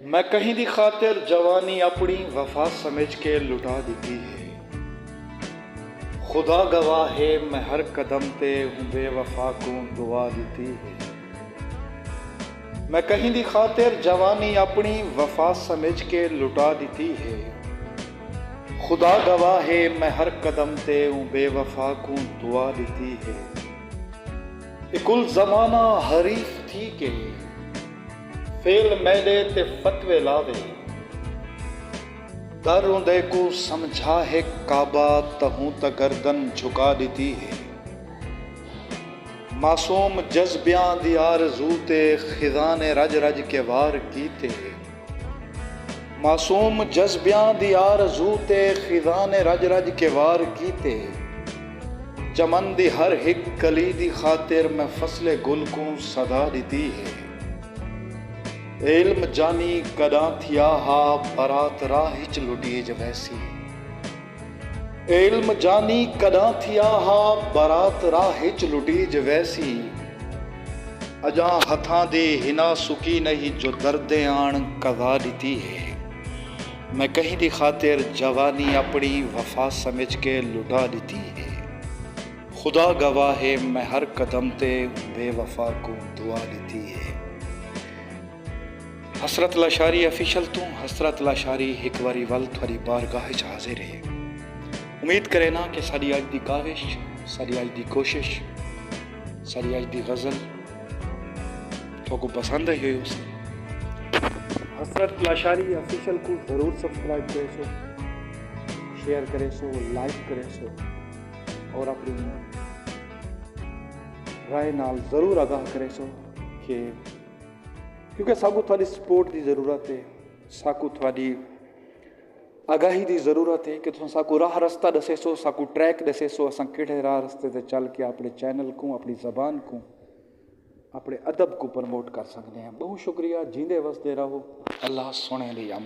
میں کہیں دی خاطر جوانی اپنی وفا سمجھ کے لٹا ڈتی ہے خدا گواہ ہے میں ہر قدم تے اوں بے وفا کوں دعا ڈتی ہے میں کہیں دی خاطر جوانی اپنی وفا سمجھ کے لٹا ڈتی ہے خدا گواہ ہے میں ہر قدم تے اوں بے وفا کوں دعا ڈتی ہے۔ تے کل زمانہ حریف تھی کے فعل میڈے تے فتوے لاوے۔ در اوندے کوں سمجھا ہک کعبہ تہوں تاں گردن جھکا ڈتی ہے۔ معصوم جذبیاں دی آرزو تے خزانے رج رج کے وار کیتے۔ معصوم جذبیاں دی آرزو تے خزاں نے رڄ رڄ کے وار کیتے۔ چمن دی ہر ہک کلی دی خاطر میں فصل گل کوں صدا ݙتی ہے۔ علم جانی کݙاں تھیا ہا برات راہ اچ لٹیج ویسی۔ علم جانی کڈاں تھیا ہا برات راہ اچ لٹیج ویسی اجاں ہتھاں دی ہنا سکی نہیں جو دردیں آن کزا ڈتی ہے میں کہیں دی خاطر جوانی اپنی وفا سمجھ کے لٹا ڈتی ہے خدا گواہ ہے میں ہر قدم تے بے وفا کوں دعا ڈتی ہے۔ حسرت لاشاری آفیشل توں حسرت لاشاری ہک واری ول تھواری بارگاہ اچ حاضر ہے۔ امید کرینا کہ ساڈی اج دی کاوش، ساڈی اج دی کوشش، ساڈی اج دی غزل تھوکوں پسند آئی ہوئی ہوسی۔ حسرت لاشاری آفیشل کوں ضرور سبسکرائب کریسو، شیئر کریسو، لائک کریسو اور اپنی رائے نال ضرور آگاہ کریسو کہ۔ کیونکہ ساکوں تہاڈی سپورٹ دی ضرورت ہے ساکوں تہاڈی آگاہی دی ضرورت ہے کہ تساں ساکوں راہ رستہ ڈسے سو ساکوں ٹریک ڈسے سو اساں کیڑھے راہ رستے تے چل کے اپنے چینل کوں اپنی زبان کوں اپنے ادب کوں پروموٹ کر سکنے ہیں بہوں شکریہ جیندے وسدے رہو اللہ سونے دی امان